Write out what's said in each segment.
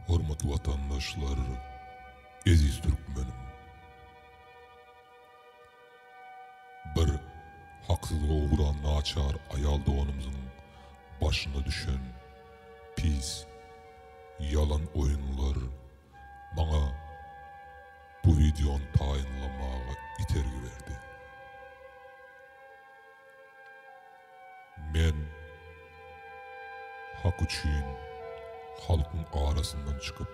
Hormatly watandaşlar, eziz türkmenim! Bir haksyz ogura naçar aýal doganymyzyň başyna düşen pis, ýalan oýunlar, maňa bu wideony taýynlamaga itergi berdi. Men Hak üçin halkyň arasyndan çykyp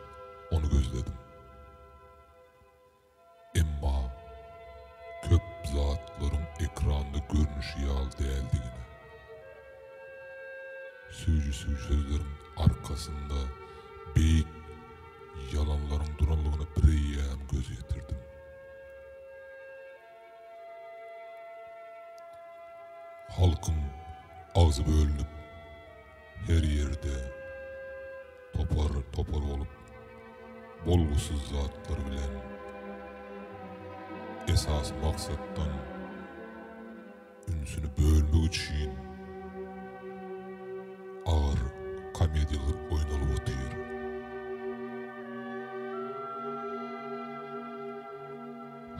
ony gözledim. Emma köp zatlaryň ekranda görnüşi ýaly däldigine, süýji-süýji sözleriň arkasynda beýik ýalanlaryň durandygyna bireýýäm göz ýetirdim. Halkyň agzy bölünip. Her ýerde topar topar bolup bolgusyz zatlar bilen esasy maksatdan ünsüni bölmek üçin agyr komediýalar oýnalyp otyr.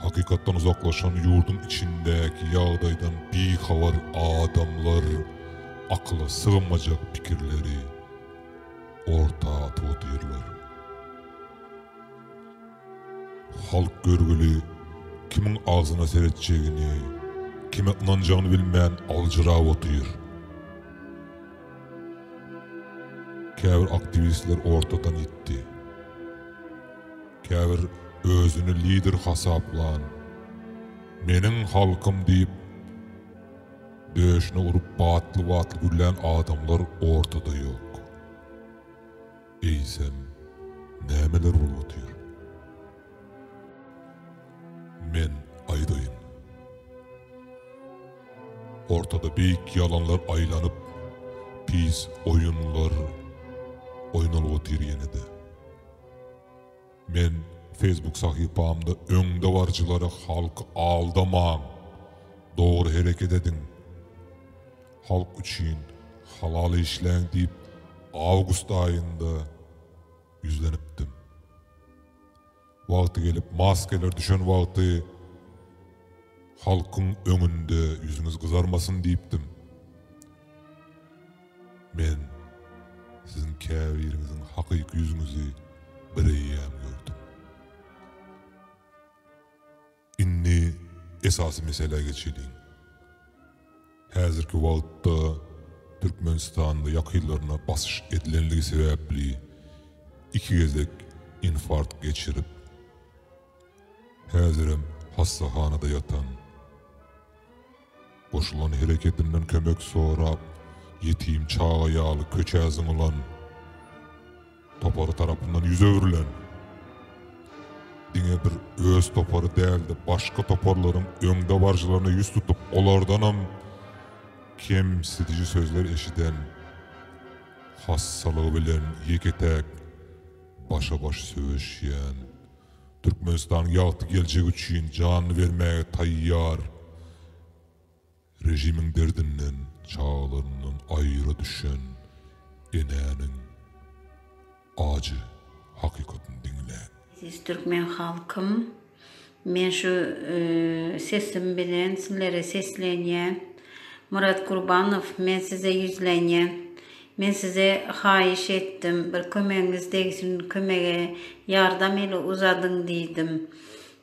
Hakykatdan uzaklaşan ýurduň içindäki ýagdaýdan bihabar adamlar akyla sygmajak pikirleri orta atyp otyrlar. Halk görgüli kimiň agzyna seretjegini, kime ynanjagyny bilmän aljyrap otyr. Käbir aktiwistler ortadan ýitdi. Käbir özüni lider hasaplan, meniň halkym diýip, döşüne urup batly-batly güllän adamlar ortada ýok. Eýsem, nämeler bolup otyr? Men aýdaýyn. Ortada beýik ýalanlar aýlanyp, pis oýunlar oýnalyp otyr ýene-de. Men Facebook sahypamda öňdebaryjylary halky aldamaň, dogry hereket ediň, halk üçin halal işläň diýip awgust aýynda ýüzlenipdim. Wagty gelip maskeler düşen wagty halkyň öňünde ýüzüňiz gyzarmasyn diýipdim. Men siziň käbiriňiziň hakyky ýüzüňizi bireýýäm gördüm. Indi esasy meselä geçeliň. Häzirki wagtda Türkmenistanda ýakynlaryna basyş edilenligi sebäpli iki gezek infarkt geçirip, häzirem hassahanada ýatan, Goşulan hereketinden kömek sorap, ýetim çaga ýaly köçä zyňylan topary tarapyndan ýüz öwrülen, diňe bir öz topary däl-de, başga toparlaryň öňdebaryjylaryna ýüz tutup, olardanam kemsidiji sözler eşiden hassalygy bilen ýeke-täk başa-baş söweşýän Türkmenistan ýagty geljek üçin janyny bermäge taýýar Režimiň derdinden çagalaryndan aýra düşen enäniň ajy hakykatyny diňläň. Eziz Türkmen halkym men şu sesim bilen sizlere seslenýän Murat Gurbanow men size ýüzlenýän Men size haýyş etdim, bir kömegiňiz degsin, kömege ýardam eli uzadyň diýdim.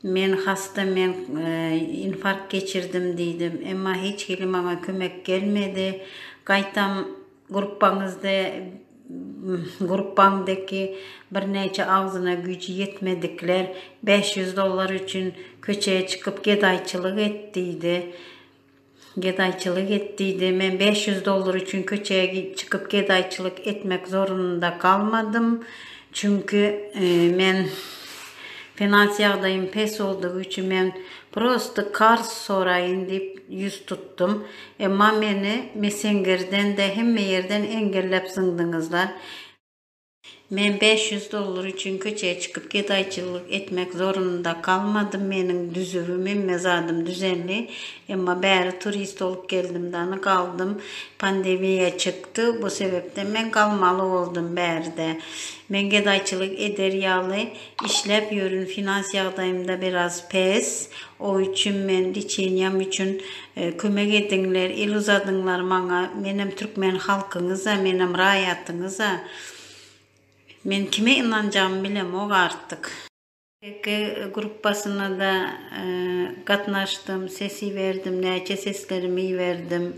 Men hasta, men infarkt geçirdim diýdim. Emma hiç hili maňa kömek gelmedi. Gaýtam gruppaňyzda gruppaňdaki birnäçe agzyna güýji ýetmedikler bäş ýüz dollar üçin köçä çykyp gedaýçylyk et diýdi. Gedaýçylyk et diýdi. Men bäş ýüz dollar üçin köçä çykyp gedaýçylyk etmek zorunda galmadym. Çünki men finans ýagdaýym pes boldugy üçin men prosto karz soraýyn diýip ýüz tutdum. Emma meni messengerden-de hemme ýerden engelläp zyňdyňyzlar. Men bäş ýüz dollar üçin köçä çykyp gedaýçylyk etmek zorunda galmadym, meniň düzübim hemme zadym düzendi, emma bäri turist bolup geldim dany galdym, pandemiýa çykdy, bu sebepden men galmaly boldum bärde. Men gedaýçylyk eder ýaly. Işläp ýörün, finans ýagdaýymda biraz pes, o üçin men liçeniýam üçin kömek ediňler, el uzadyňlar maňa, menem türkmen halkyňyza, menem raýatyňyza, men kime ynanjagymy bilemok artyk. TK gruppasyna-da gatnaşdym, ses iberdim, näçe seslerimi iberdim.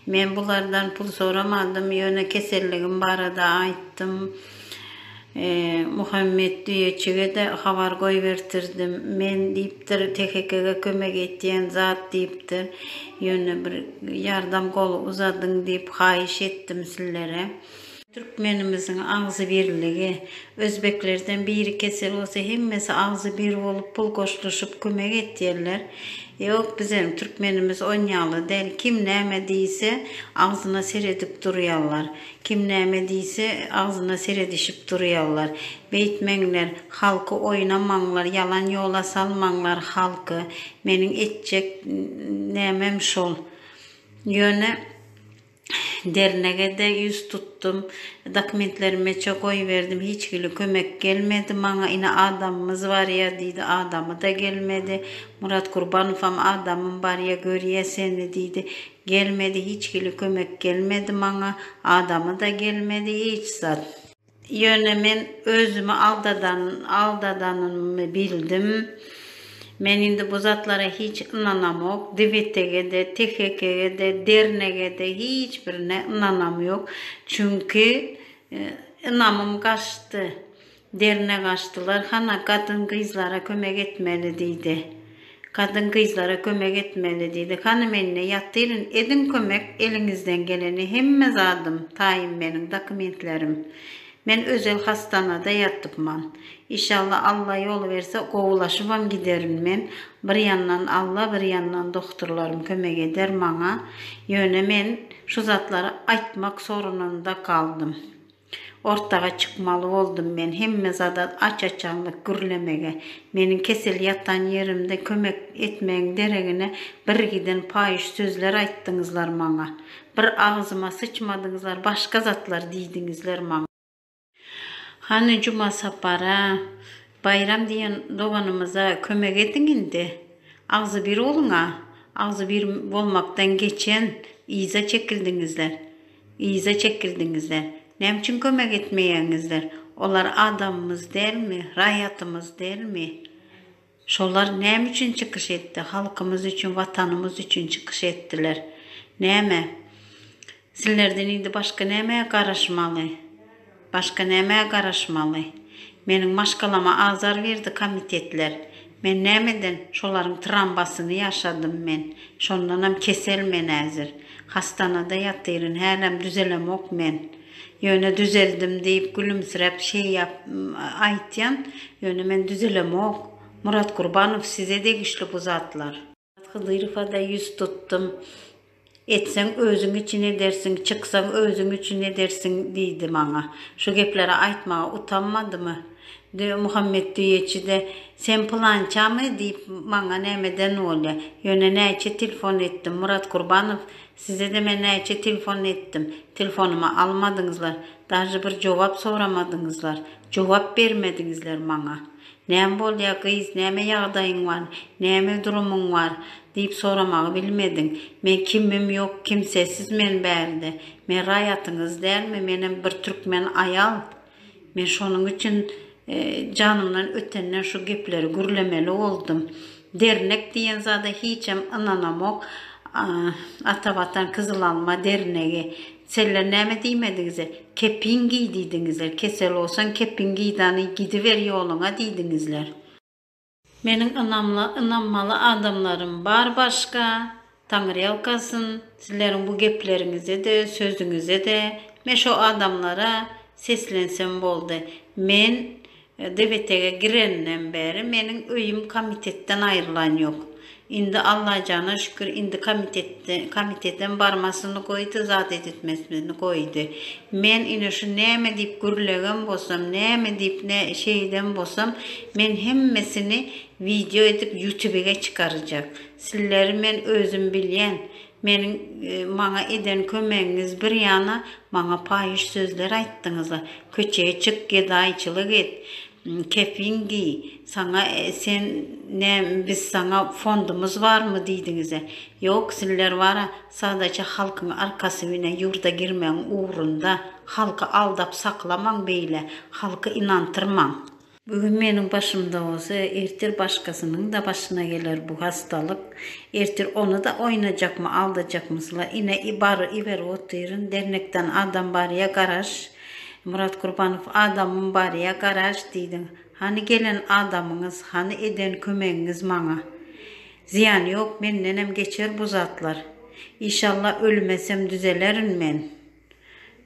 Men bulardan pul soramadym, ýöne keselligim barada aýtdym. Muhammet düýeçige-de habar goýbertirdim. Men, diýipdir, Tekekege kömek etýän zat, diýipdir. Ýöne bir ýardam goly uzadyň diýip haýyş etdim sizlere. Türkmenimiziň agzybirligi. Özbeklerden biri kesel bolsa hemmesi agzybir bolup pul goşluşyp kömek etýärler. Ýok bizem türkmenimiz onýaly däl kim näme diýse agzyna seredip durýarlar. Kim näme diýse, agzyna seredişip durýarlar. Beýtmeňler, halky oýnamaňlar, ýalan ýola salmaňlar halky. Meniň etjek nämem şol. Ýöne dernege-de ýüz tutdum. Dokumentlerimeçe goýberdim. Hiç hili kömek gelmedi maňa. Ine, adamymyz barýa diýdi. Adamy-da gelmedi. Murat Gurbanowam adamym barýa, görýä seni diýdi. Gelmedi hiç hili kömek gelmedi maňa adamy da gelmedi hiç zat. Ýöne men özümi aldadan aldadanymmy bildim. Men indi bu zatlara hiç ynanamok dibetege-de tehekege-de dernege-de hiç birine ynanam ýok çünki ynamym gaçdy. Derine gaçdylar. Hana, gadyn-gyzlara kömek etmeli, diýdi. Gadyn-gyzlara kömek etmeli, diýdi. Hany, men-de ýatyryn. Ediň kömek, eliňizden geleni. Hemme zadym, taýym meniň, dokumentlerim. Men özel hasdanada ýatypman. Işalla, Alla ýol berse, gowulaşybam giderin men. Bir ýandan Alla, bir ýandan dohturlarym kömek eder maňa. Ýöne men şu zatlary aýtmak sorunynda galdym. Ortaga çykmaly boldum men. Hemme zada aç-açanlyk gürlemegi. Meniň kesel ýatan ýerimde kömek etmegiň deregine birgiden paýyş sözler aýtdyňyzlar maňa. Bir agzyma syçmadyňyzlar, başga zatlar diýdiňizler maňa. Hany Juma Sapara, Baýram diýen doganymyza kömek ediň indi. Agzybir boluň-a. Agzybir bolmakdan geçen, yza çekildiňizler. Yza çekildiňizler. Näme üçin kömek etmeýäňizler? Olar adamymyz dälmi? Raýatymyz dälmi? Şolar näme üçin çykyş etdi? Halkymyz üçin, Watanymyz üçin çykyş etdiler. Näme? Sizlerden indi başga nämä garaşmaly? Başga nämä garaşmaly? Meniň maşgalama azar berdi komitetler. Men näme eden? Şolaryň trambasyny ýaşadym men. Şondanam kesel men häzir. Hastanada ýatyryn, hälem düzelemok men. Ýöne düzeldim diýip gülümsiräp şeýap aýtýan, ýöne men düzelemok. Murat Gurbanow size degişli bu zatlar. Hydyrowa-da ýüz tutdum. Etseň, özüň üçin edersiň, çyksaň, özüň üçin edersiň, diýdi maňa. Şu gepleri aýtmaga utanmadymy? Muhammet düýeçi-de, Sen pylançamy? diýip, maňa nämeden bolýa? Ýöne näçe telefon etdim, Murat Kurbanow, size-de men näçe telefon etdim, telefonymy almadyňyzlar, dažy bir jogap soramadyňyzlar, jogap bermediňizler maňa. Näme bolýar, gyz, näme ýagdaýyň bar, näme durumyň bar? diýip soramagy bilmedim. Men kimim ýok, kimsesiz men bärde. Men raýatyňyz dälmi, menem bir türkmen aýal. Men şonuň üçin janymdan ötenden şu gepleri gürlemeli boldum. Dernek diýen zada hiçem ynanamok ata watan kyzyl alma dernegi seller näme diýmedigize kepin giý diýdiňizler kesel bolsaň kepin giý dany gidiber ýoluňa diýdiňizler. Meniň ynamly ynanmaly adamlarym bar başga Taňryýalkasyn, sizleriň bu gepleriňizede-de, sözüňizede-de, men şo adamlara seslensem boldy. Men DBT-ge gireninden bäri meniň öýüm komitetden aýrylan ýok. Indi Allajana şükür, indi komitetde, komitetdem barmasyny goýdy, zat edetmesini goýdy. Men ine şu näme diýip gürlegen bolsam, näme diýip nä şeýden bolsam, men hemmesini wideo edip ýutubige çykarjak. Sizleri men özüm bilýän. Meniň maňa eden kömegiňiz bir ýana, maňa paýyş sözler aýtdyňyz-a, köçäe çyk, gedaýçylyk et, kepin giý, saňa sen nä biz saňa fondumyz barmy diýdiňiz-ä. Ýok, sizler bar-a, sadaça halkyň arkasy bilen ýurda girmegiň ugrunda. Halky aldap saklamaň beýle, halky ynantyrmaň. Bu gün meniň başymda bolsa, ertir başgasynyň-da başyna geler bu hastalyk. Ertir ony-da oýnajakmy, aldajakmysla? Ine, bar, iber otyryn. Dernekden adam barýa, garaş. Myrat Gurbanow, Adamym barýa, garaş diýdiň. Hany gelen adamyňyz, hany eden kömegiňiz maňa? Zyýany ýok, mendenem geçer bu zatlar. Işallah, ölmesem düzelerin men.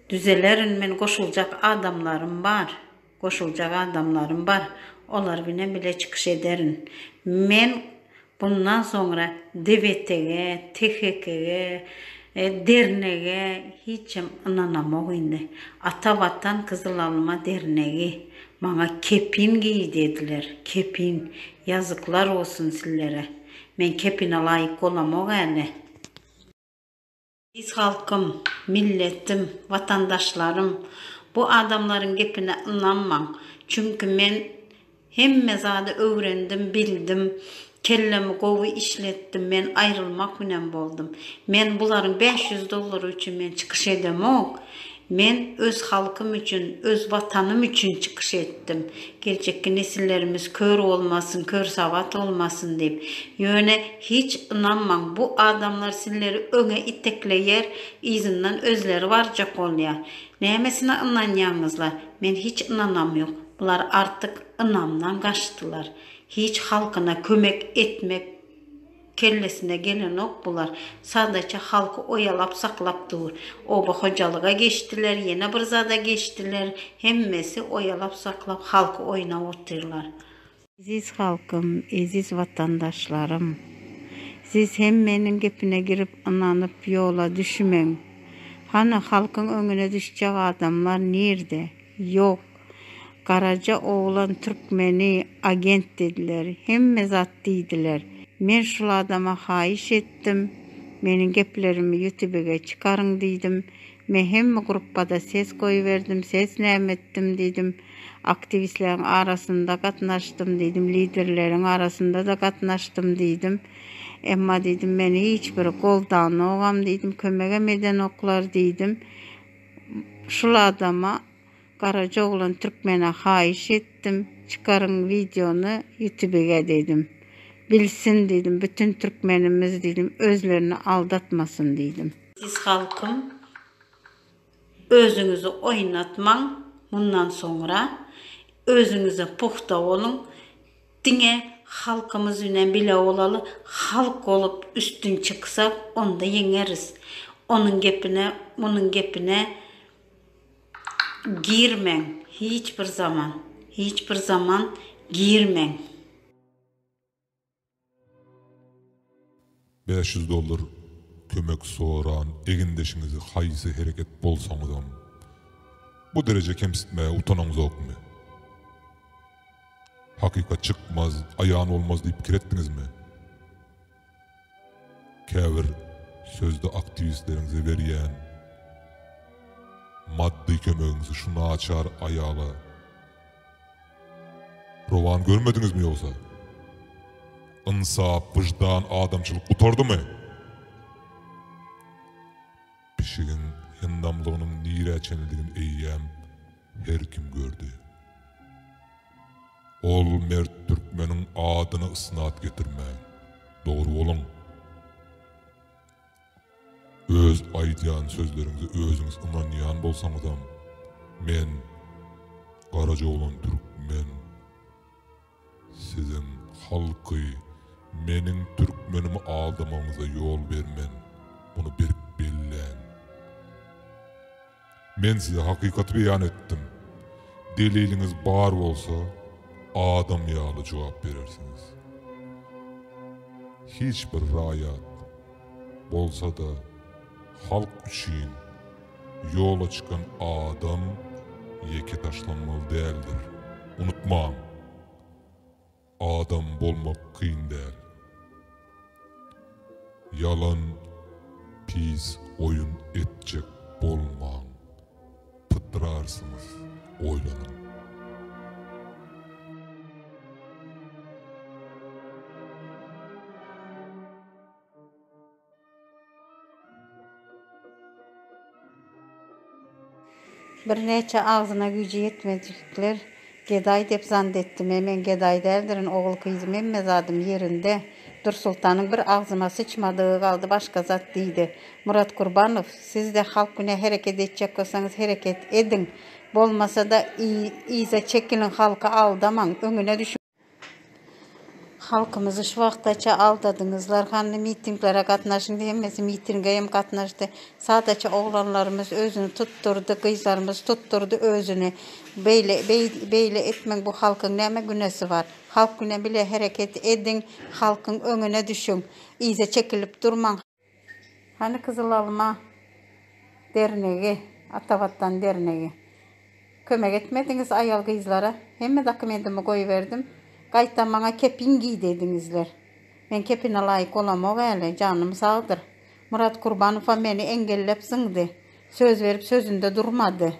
Düzelerin men, goşuljak adamlarym bar. Goşuljak adamlarym bar, olar bilen bile çykyş ederin. Men bundan soňra DBT-ge, THK-ge, dernege hiçem ynanamok indi. Ata Watan, Gyzyl Alma dernegi maňa kepin giý dediler, kepin. Ýazyklar bolsun sizlere. Men kepine laýyk bolamok äle. Eziz halkym, milletim, watandaşlarym, bu adamlaryň gepine ynanmaň, çünki men hemme zady öwrendim, bildim, kellemi gowy işletdim, men aýrylmak binem boldum. Men bularyň bäş ýüz dollary üçin men çykyş edemok. Men öz halkym üçin, öz Watanym üçin çykyş etdim. Geljekki nesillerimiz kör bolmasyn, körsawat bolmasyn diýip. Ýöne hiç ynanmaň, bu adamlar sizleri öňe itekleýär, yzyndan özleri barjak bolýar. Nämesine ynanýaňyzla? Men hiç ynanam ýok. Bular artyk ynamdan gaçdylar. Hiç halkyna kömek etmek. Kellesine gelenok bular. Sadaça halky oýalap saklap dur. Oba hojalyga geçdiler, ýene bir zada geçdiler. Hemmesi oýalap saklap halky oýnap otyrlar. Eziz halkym, eziz watandaşlarym. Siz hemmeniň gepine girip ynanyp ýola düşmeň. Hany halkyň öňüne düşjek adamlar nirde? Ýok. Garaja oglan türkmeni agent dediler, hemme zat diýdiler. Men şul adama haýyş etdim, meniň geplerimi ýutibige çykaryň diýdim. Men hemme gruppada ses goýberdim, ses näme etdim diýdim. Aktiwistleriň arasynda gatnaşdym diýdim, liderleriň arasynda-da gatnaşdym diýdim. Emma diýdim, meni hiç biri goldanogam diýdim, kömegem edenoklar diýdim. Şul adama. Garaja oglan türkmene haýyş etdim çykaryň wideony ýutubige diýdim. Bilsin diýdim bütin türkmenimiz diýdim özlerini aldatmasyn diýdim. Eziz halkym özüňizi oýnatmaň mundan soňra özüňize pugta boluň diňe halkymyz bilen bile bolaly halk bolup üstün çyksak onda ýeňeris onuň gepine munuň gepine Girmeň hiç bir zaman hiç bir zaman girmeň. Bäş ýüz dollar kömek soran egindeşiňizi haýsy hereket bolsaňyzam bu dereje kemsitmäge utanaňzokmy? Hakykat çykmaz, aýan bolmaz diýip pikir etdiňizmi? Käbir sözde aktiwistleriňize berýän maddy kömegiňizi şu naçar aýala rowan görmediňizmi ýogsa? Ynsap, wyždan, adamçylyk gutardymy? Pişigiň hyndamlygynyň nirä çenlidigini eýýäm her kim gördi. Ol mert türkmeniň adyny ysnat getirmäň. Dogry boluň. Öz aýdýan sözleriňize özüňiz ynanýan bolsaňyzam men Garajoglan türkmen siziň halky meniň türkmenimi aldamagyňyza ýol bermen. Muny berk belläň. Men size hakykaty beýan etdim. Deliliňiz bar bolsa, adam ýaly jogap berersiňiz. Hiç bir raýat, bolsa-da, halk üçin ýola çykan adam ýeke taşlanmaly däldir. Unutmaň! Adam bolmak kyn däl. Ýalan pis oýun etjek bolmaň pytrarsyňyz oýlanyň. Birnäçe agzyna güýji ýetmejikler gedaý dep zant etdim. E, men gedaý däldirin, ogul-gyzym hemme zadym ýerinde. Dursultanyň bir agzyma syçmadygy galdy başga zat diýdi. Murat Gurbanow, siz-de halk güne hereket etjek bolsaňyz hereket ediň. Bolmasa-da, yza çekiliň, halky aldamaň, öňüne düşüň. Halkymyzy şu wagtaça aldadyňyzlar, hany mitinglere gatnaşyň diýemesi mitinge hem gatnaşdy. Sadaça oglanlarymyz özüni tutdurdy, gyzlarymyz tutdurdy özüni. Beýle beýle etmeň bu halkyň näme günesi bar. Halk bile hereket ediň, halkyň öňüne düşüň. Yza çekilip durmaň. Hany Gyzyl Alma dernegi, Atavatan dernegi? Kömek etmediňiz aýal gyzlara. Hemme dokumentimi goýberdim. Gaýtam maňa kepin giý diýdiňizler. Men kepine laýyk bolamok äle, janym sagdyr. Myrat Kurbanowam meni eňgellep zyňdy. Söz berip sözünde durmady.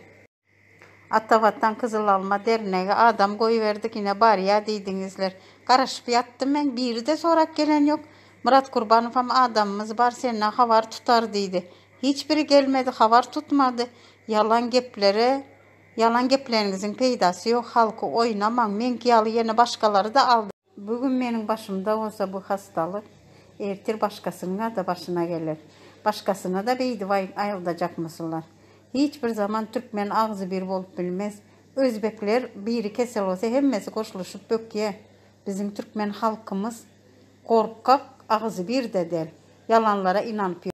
Ata watan gyzyl alma dernegi adam goýberdi gine barýa diýdiňizler. Garaşyp ýatdym men biride sorap gelen ýok. Myrat Gurbanowam adamymyz bar senden habar tutar diýdi. Hiç biri gelmedi habar tutmady. Ýalan geplere ýalan gepleniňiziň peýdasy ýok halky oýnamaň meňki ýaly ýene başgalaryda aldylar. Bu gün meniň başymda bolsa bu hassalyk, ertir başgasynyňa-da başyna geler. Başgasyna-da beýdip aýyldajakmysylar? Hiç bir zaman türkmen agzybir bolup bilmez. Özbekler biri kesel bolsa hemmesi goşulyşyp bökýä. Biziň türkmen halkymyz gorkak, agzybir-de däl. Ýalanlara ynanyp ýör.